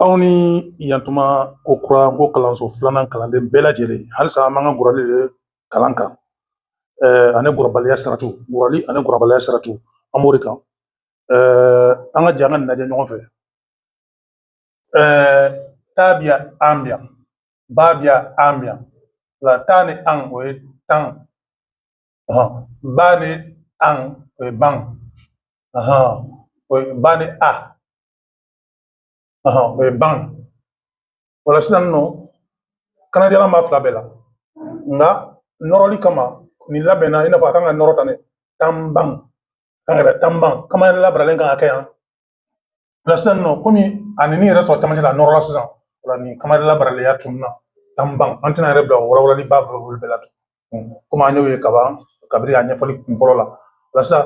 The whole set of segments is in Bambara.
Aw ni yan tuma kokura Nko kalanso filanan kalanden bɛɛ lajɛlen halisa an b'an ka gbarali de kalan kan ani gbarabaliya saratu gbarali ani gbarabaliya saratu an b'o de kan an ka jɛ an ka nin lajɛ ɲɔgɔn fɛ ta bɛ yan an bɛ yan ba bɛ yan an bɛ yan o la ta ni an o ye tan ba ni an o ye ban o ye ba ni a o ye ban o la sisan nɔ kannadiyalan b'a fila bɛɛ la nka nɔrɔli kama nin labɛnna i n'a fɔ a kan ka nɔrɔ tan dɛ tanban kan ka kɛ tanban kanmayɛlɛ labaralen kan ka kɛ yan o la sisan nɔ komi a ni yɛrɛ sɔrɔ camancɛ la a nɔrɔla sisan o la nin kanmayɛlɛ labaralen ya tununna tanban an tɛna yɛrɛ bila o walawalaliba bolo bɛɛ la tun komi an y'o ye kaban kabiri a ɲɛfɔli kun fɔlɔ la o la sisan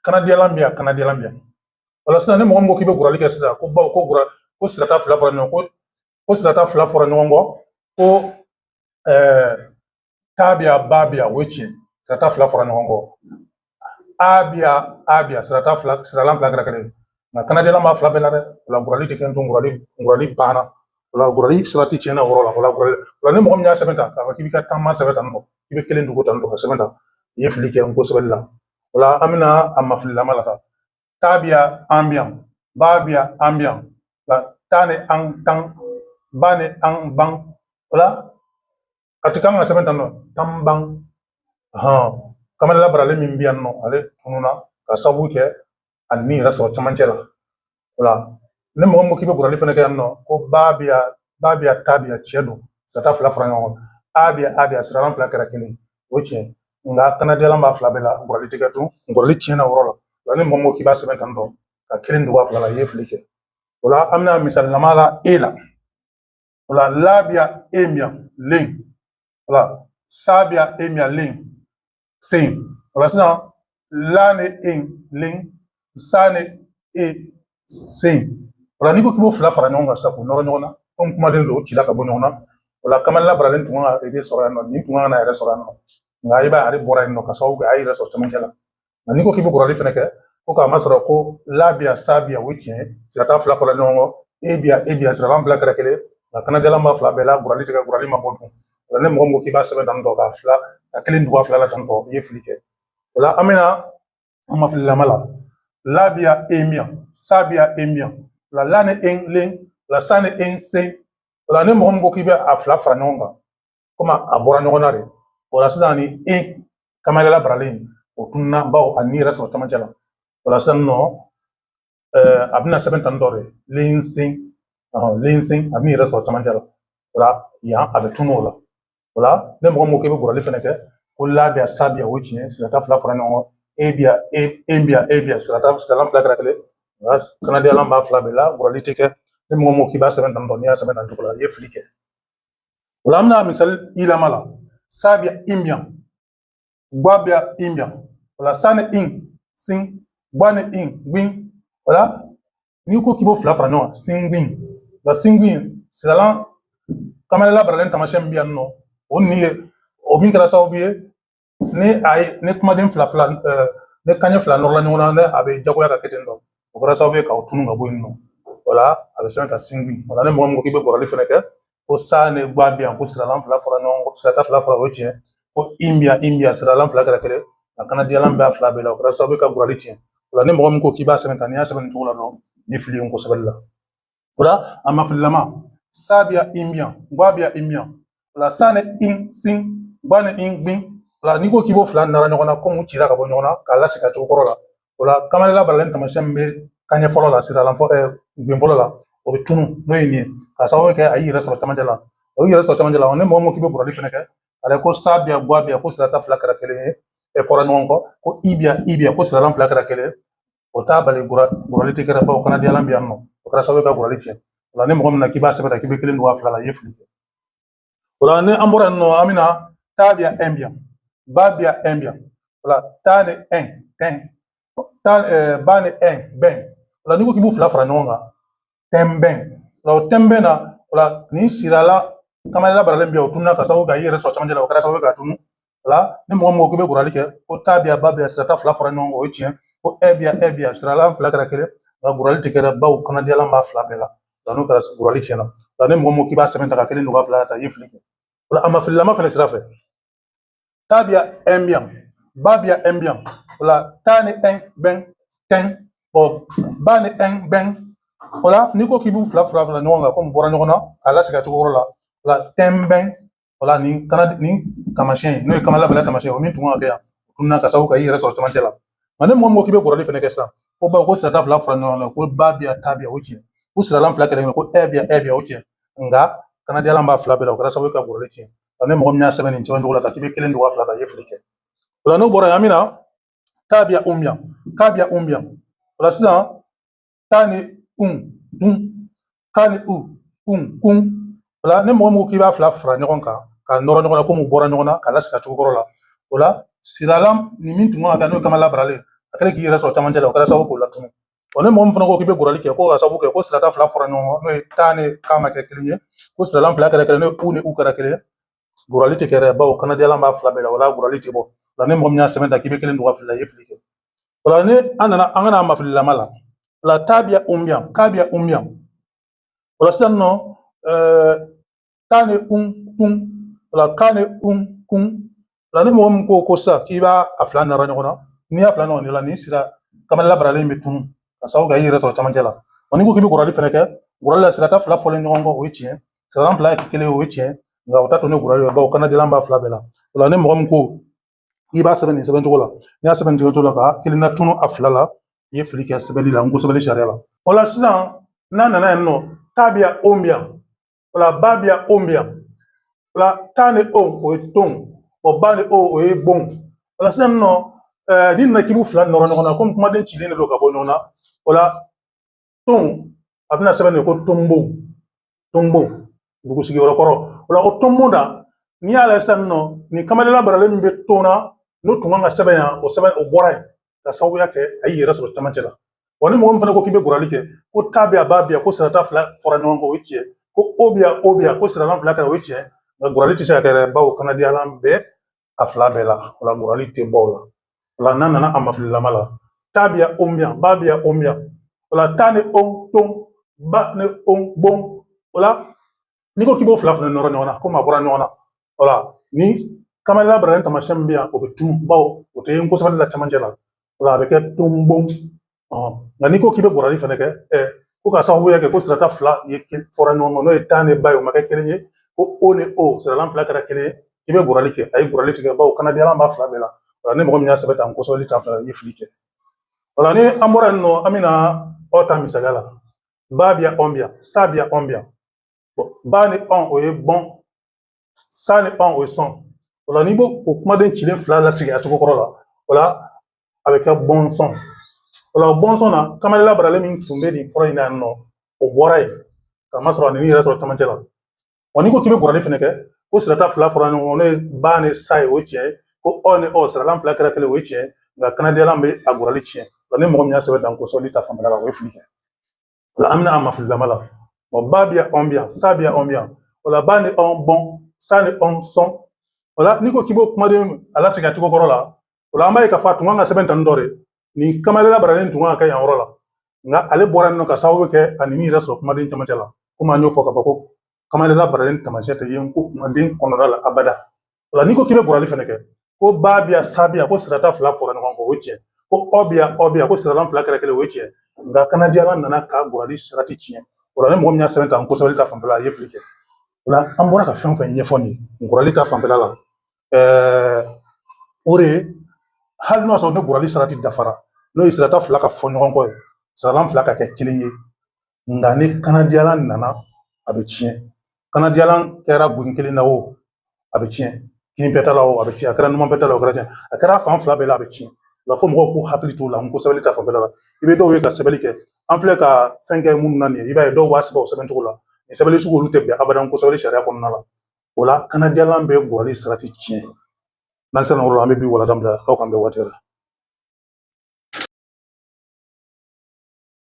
kannadiyalan bɛ yan kannadiyalan bɛ yan o la sisan ni mɔgɔ min ko k'i bɛ gbarali kɛ sisan ko bawo ko gɔrɔ ko sirata fila fɔra ɲɔgɔn kɔ ko sirata fila fɔra ɲɔgɔn kɔ ko ɛɛ ta bɛ yan ba bɛ yan o ye tiɲɛ sirata fila fɔra ɲɔgɔn kɔ a bɛ yan a bɛ yan sirata fila siralan fila kɛra kelen ye nka kannadiyalan b'a fila bɛɛ la dɛ o la gbarali tɛ kɛ tun gbarali gbarali banna o la gbarali saratu tiɲɛna o yɔrɔ la o la gbarali o la ni mɔgɔ min y'a sɛbɛn tan k'a fɔ k'i bɛ ka tanban sɛbɛn tan nɔ i bɛ kelen dogo tan nɔ k'a sɛbɛn tan i ye fili kɛ Nko sɛbɛnni la o la an bɛna a mafililama la sa ta bɛ yan an bɛ yan ba bɛ yan an bɛ yan o la ta ni an tan ba ni an ban o la a tun kan ka sɛbɛn tan nɔ tanban anhan kanmayɛlɛ labaralen min bɛ yan nɔ ale tununna ka sabu kɛ a ni yɛrɛ sɔrɔ camancɛ la o la ni mɔgɔ min ko k'i bɛ gbarali fana kɛ yan nɔ ko ba bɛ yan ba bɛ yan ta bɛ yan tiɲɛ don sirata fila fara ɲɔgɔn kan a bɛ yan a bɛ yan siralan fila kɛra kelen o ye tiɲɛ nka kannadiyalan b'a fila bɛɛ la gbarali tɛ kɛ tun gbarali tiɲɛna o yɔrɔ la o la ni mɔgɔ min ko k'i b'a sɛbɛn tan tɔ ka kelen dogo a fila la i ye fili kɛ o la an bɛna misali lama la e la o la la bɛ yan en bɛ yan len o la sa bɛ yan en bɛ yan len sen. O la sisan la ni en len sa ni en sen. O la n'i ko k'i b'o fila fara ɲɔgɔn kan sa k'u nɔrɔ ɲɔgɔn na komi kumaden don o cila ka bɔ ɲɔgɔn na o la kanmayɛlɛ labaralen tun kan k'a yɛrɛ sɔrɔ yan nɔ nin tun kan ka na yɛrɛ sɔrɔ yan nɔ nka i b'a ye ale bɔra yen nɔ ka sababu kɛ a y'a yɛrɛ sɔrɔ cɛmancɛ la nka n'i ko k'i bɛ gbarali fɛnɛ kɛ ko k'a masɔrɔ ko la bɛ yan sa bɛ yan o ye tiɲɛ ye sirata fila fɔra ɲɔgɔn kɔ e bɛ yan e bɛ yan siralan fila kɛra kelen nka kannadiyalan b'a fila bɛɛ la gbarali tɛ kɛ gbarali ma bɔ dun O la ni mɔgɔ min ko k'i b'a sɛbɛn tan tɔ k'a fila ka kelen dogo a fila la tan tɔ i ye fili kɛ o la an bɛna a mafililama la la bɛ yan en bɛ yan sa bɛ yan en bɛ yan o la la ni en len o la sa ni en sen o la ni mɔgɔ min ko k'i bɛ a fila fara ɲɔgɔn kan komi a bɔra ɲɔgɔn na de o la sisan nin kanmayɛlɛ labaralen o tununna bawo a ni yɛrɛ sɔrɔ camancɛ la o la sisan nɔ a bɛna sɛbɛn tan dɔ de lensen lensen a b'i yɛrɛ sɔrɔ camancɛ la o la yan a bɛ tunun o la o la ni mɔgɔ min ko k'i bɛ gbarali fɛnɛ kɛ ko la bi yan sa bi yan o tiɲɛ sirata fila fara ɲɔgɔn kan e bi yan e e bi yan e bi yan sirata siralan fila kɛra kelen nka kannadiyalan b'a fila bɛɛ la gbarali tɛ kɛ ni mɔgɔ min ko k'i b'a sɛbɛn tan dɔ n'i y'a sɛbɛn tan cogo la i ye fili kɛ o la an bɛna misali yɛlɛma la sa bi yan in bi yan gba bi yan in bi yan o la sa ni in sin gba ni in gbin o la n'i ko k'i b'o fila fara ɲɔgɔn kan singbin la singbin siralan kanmayɛlɛ labaralen taamasiyɛn min bɛ yan nɔ o ni ye o min kɛra sababu ye ni a ye ni kumaden fila fila ni kanɲɛ fila nɔrɔla ɲɔgɔn na ne a bɛ jagoya ka kɛ ten tɔ o kɛra sababu ye k'a tunun ka bɔ yen nɔ o la a bɛ sɛbɛn ka singbin o la ni mɔgɔ min ko k'i bɛ gbarali fɛnɛ kɛ ko sa ni gba bi yan ko siralan fila fara ɲɔgɔn kan sirata fila fara o tiɲɛ ko i bi yan i bi yan siralan fila kɛra kelen a kannadiyalan b'a fila bɛɛ la o kɛra sababu ye ka gbarali tiɲɛ o la ni mɔgɔ min ko k'i b'a sɛbɛn tan n'i y'a sɛbɛn nin cogo la dɔrɔn nin fili ye nko sɛbɛ la o la a ma fililama sa bi yan in bi yan gba bi yan in bi yan o la sa ni in sin gba ni in gbin o la n'i ko k'i b'o fila nara ɲɔgɔn na komi u cira ka bɔ ɲɔgɔn na k'a lasegin a cogo kɔrɔ la o la kanmayɛlɛ labaralen taamasiyɛn min bɛ kanɲɛ fɔlɔ la siralan fɔ gben fɔlɔ la o bɛ tunun n'o ye nin ye k'a sababu kɛ a y'i yɛrɛ sɔrɔ camancɛ la o y'i yɛrɛ sɔrɔ camancɛ la ni mɔgɔ min ko k'i bɛ gbarali fɛnɛ kɛ ale ko sa bi yan gba bi yan ko sirata fila kɛra kelen ye e fara ɲɔgɔn kan ko i bi yan i bi yan ko siralan fila kɛra kelen o t'a bali gbarali tɛ kɛra bawo kannadiyalan bɛ yan nɔ o kɛra sababu ye ka gbarali tiɲɛ o la ni mɔgɔ min na k'i b'a sɛbɛn k'i bɛ kelen dogo a fila la i ye fili kɛ o la ni an bɔra yen nɔ an bɛna ta bi yan ɛn bi yan ba bi yan ɛn bi yan o la ta ni ɛn tɛn ta ɛɛ ba ni ɛn bɛn o la n'i ko k'i b'u fila fara ɲɔgɔn kan tɛnbɛn o la o tɛnbɛn na o la nin siralan kanmayɛlɛ labaralen bɛ yan o tununa k'a sababu kɛ i yɛrɛ sɔrɔ camancɛ la o kɛra sababu ye k'a tunun la ni mɔgɔ min ko k'i bɛ gbarali kɛ ko ta bi yan ba bi yan sirata fila fara ɲɔgɔn kan o ye tiɲɛ ko ɛ bi yan ɛ bi yan siralan fila kɛra kelen nka gbarali tɛ kɛra bawo kannadiyalan b'a fila bɛɛ la nka n'o kɛra gbarali tiɲɛna nka ni mɔgɔ min ko k'i b'a sɛbɛn tan ka kelen don ka fila ta i ye fili kɛ o la a ma fililama fana sira fɛ ta bi yan ɛn bi yan ba bi yan ɛn bi yan o la ta ni ɛn bɛn tɛn ɔ ba ni ɛn bɛn o la n'i ko k'i b'u fila fara fara ɲɔgɔn kan komi bɔra ɲɔgɔn na k'a lasegin a cogo kɔrɔ la o la tɛn bɛn o la nin kana nin taamasiyɛn n'o ye kanmayɛlɛ labaralen taamasiyɛn o min tun kan ka kɛ yan o tununa k'a sababu kɛ i yɛrɛ sɔrɔ camancɛ la nka ni mɔgɔ min ko k'i bɛ gbarali fɛnɛ kɛ sisan ko bawo ko sirata fila fara ɲɔgɔn kan ko ba bi yan ta bi yan o tiɲɛ ko siralan fila kelen ko ɛ bi yan ɛ bi yan o tiɲɛ nka kannadiyalan b'a fila bɛɛ la o kɛra sababu ka gbarali tiɲɛ nka ni mɔgɔ min y'a sɛbɛn nin cɛman cogo la ka k'i bɛ kelen dogo a fila la i ye fili kɛ o la n'o bɔra yan an bɛna ta bi yan un bi yan ka bi yan un bi yan o la sisan taa ni un tun ka ni un kun o la ni mɔgɔ min ko k'i b'a fila fara ɲɔgɔn kan ka nɔrɔ ɲɔgɔn na komi u bɔra ɲɔgɔn na ka lasigi cogo kɔrɔ la o la siralan ni min tun kan ka kɛ n'o ye kamayɛlɛ labaralen a kɛlen k'i yɛrɛ sɔrɔ camancɛ la o kɛra sababu k'o latunu wa ni mɔgɔ min fana ko k'i bɛ gurali kɛ ko ka sababu kɛ ko sirata fila fara ɲɔgɔn kan n'o ye taa ni ka ma kɛ kelen ye ko siralan fila kɛra kelen n'o ye u ni u kɛra kelen ye gurali tɛ kɛ dɛ bawo kanadiyalan b'a fila bɛɛ la o la gurali tɛ bɔ o la ni mɔgɔ min y'a sɛbɛn tan k'i bɛ kelen don a fila la i ye fili kɛ o la ni an nana an ka na a mafililama la o la taa bi yan un bi yan ka bi yan un bi yan o la sisan nɔ ɛɛ taa ni un tun o la ka ni un kun o la ni mɔgɔ min ko ko sisan k'i b'a a fila nɔrɔ ɲɔgɔn na n'i y'a fila ɲɔgɔn de la nin sira kamayɛlɛ labaralen bɛ tunu ka sababu kɛ i yɛrɛ sɔrɔ camancɛ la wa n'i ko k'i bɛ gurali fɛnɛ kɛ gurali la sirata fila fɔlen ɲɔgɔn kɔ o ye tiɲɛ siralan fila kelen o ye tiɲɛ nka o ta to ne gurali ye bawo kanadiyalan b'a fila bɛɛ la o la ni mɔgɔ min ko i b'a sɛbɛn nin sɛbɛn cogo la n'i y'a sɛbɛn nin cogo la ka kelen latunu a fila la i ye fili kɛ sɛbɛnni la n ko sɛbɛnni sariya la o la sisan n'an nana yan nɔ taa bi yan on bi yan o la ba bi yan on bi yan o la taa ni on o ye ton o ba ni on o ye bon o la sisan nɔ n'i nana k'i b'u fila nɔrɔ ɲɔgɔn na komi kumaden cilen de don ka bɔ ɲɔgɔn na o la ton a bɛna sɛbɛn de ko tonbon tonbon dugu sigiyɔrɔ kɔrɔ o la ko tonbon na n'i y'a lajɛ sisan nɔ nin kamayɛlɛ labaralen min bɛ ton na n'o tun kan ka sɛbɛn yan o sɛbɛn o bɔra yen ka sababuya kɛ a y'i yɛrɛ sɔrɔ camancɛ la wa ni mɔgɔ min fana ko k'i bɛ gurali kɛ ko taa bɛ yan ba bɛ yan ko sirata fila fɔra ɲɔgɔn kan o ye tiɲɛ ko o bɛ yan o bɛ yan ko siralan fila kɛra o ye tiɲɛ nka gurali tɛ se ka kɛ dɛ bawo kanadiyalan bɛ a fila bɛɛ la o la gurali tɛ bɔ o la o la n'an nana a mafililama la taa bi yan on bi yan ba bi yan on bi yan o la taa ni on ton ba ni on bon o la n'i ko k'i b'o fila fana nɔrɔ ɲɔgɔn na komi a bɔra ɲɔgɔn na o la ni kamayɛlɛ labaralen tamasiyɛn min bɛ yan o bɛ tunu bawo o tɛ n ko sɛbɛnni la cɛmancɛ la o la a bɛ kɛ tonbon nka n'i ko k'i bɛ gurali fɛnɛ kɛ ko ka sababuya kɛ ko sirata fila ye fɔra ɲɔgɔn kan n'o ye taa ni ba ye o ma kɛ kelen ye ko o ni o siralan fila kɛra kelen ye i bɛ gurali kɛ a ye gurali tɛ kɛ bawo kanadiyalan b'a fila bɛɛ la o la ni mɔgɔ min y'a sɛbɛn tan n ko sɛbɛnni ta fanfɛla i ye fili kɛ o la ni an bɔra yen nɔ an bɛna ɔn ta misaliya la ba bi yan ɔn bi yan sa bi yan ɔn bi yan ba ni ɔn o ye bɔn sa ni ɔn o ye sɔn o la n'i b'o o kumaden cilen fila lasigi a cogo kɔrɔ la o la a bɛ kɛ bɔnsɔn o la bɔnsɔn na kamayɛlɛ labaralen min tun bɛ nin fɔlɔ in na yan nɔ o bɔra yen ka masɔrɔ a y'i yɛrɛ sɔrɔ camancɛ la wa n'i ko k'i bɛ gurali fɛnɛ kɛ ko sirata fila fɔra ɲɔgɔn kɔ n'o ye ba ni sa ye o ye tiɲɛ ye ko ɔ ni ɔ siralan fila kɛra kelen o ye tiɲɛ ye nka kanadiyalan bɛ a gurali tiɲɛ wa ni mɔgɔ min y'a sɛbɛn tan n ko sɛbɛnni ta fanfɛla la o ye fili kɛ an bɛna a mafililama la ɔ ba bɛ yan ɔn bɛ yan sa bɛ yan ɔn bɛ yan o la ba ni ɔn bɔn sa ni ɔn sɔn o la n'i ko k'i b'o kumaden a lasegin a cogo kɔrɔ la o la an b'a ye k'a fɔ a tun kan ka sɛbɛn tan dɔ de nin kanmayɛlɛ labaralen tun kan ka kɛ yan yɔrɔ la nka ale bɔra yen nɔ ka sababu kɛ ani min yɛrɛ sɔrɔ kumaden camancɛ la komi an y'o fɔ ka ban ko kanmayɛlɛ labaralen taamasiyɛn tɛ ye nko kumaden kɔnɔna la abada o la n'i ko k'i bɛ gbarali fɛnɛ kɛ ko ba bi yan sa bi yan ko sirata fila fɔra ɲɔgɔn kɔ o ye tiɲɛ ko ɔ bi yan ɔ bi yan ko siralan fila kɛra kelen o ye tiɲɛ nka kanadiyalan nana ka gbarali sarati tiɲɛ o la ni mɔgɔ min y'a sɛbɛn tan nko sɛbɛli ta fanfɛla a ye fili kɛ o la an bɔra ka fɛn o fɛn ɲɛfɔ nin ye gbarali ta fanfɛla la ɛɛ o de ye hali n'o y'a sɔrɔ ni gbarali sarati dafara n'o ye sirata fila ka fɔ ɲɔgɔn kɔ ye siralan fila ka kɛ kelen ye nka ni kanadiyalan nana a bɛ tiɲɛ kanadiyalan kɛra gben kelen na o a bɛ tiɲɛ kinfɛta la o a bɛ tiɲɛ a kɛra numanfɛta la o kɛra tiɲɛ a kɛra fan fila bɛɛ la a bɛ tiɲɛ nka fo mɔgɔw k'u hakili t'o la nko sɛbɛnni ta fanfɛla la i bɛ dɔw ye ka sɛbɛnni kɛ an filɛ ka fɛn kɛ minnu na nin ye i b'a ye dɔw b'a sɛbɛn o sɛbɛn cogo la nin sɛbɛnni sugu olu tɛ bɛn abada nko sɛbɛnni sariya kɔnɔna la o la kanadiyalan bɛ gbarali sarati tiɲɛ n'an sera yɔrɔ la an bɛ bi walada bila aw k'an bɛn waati la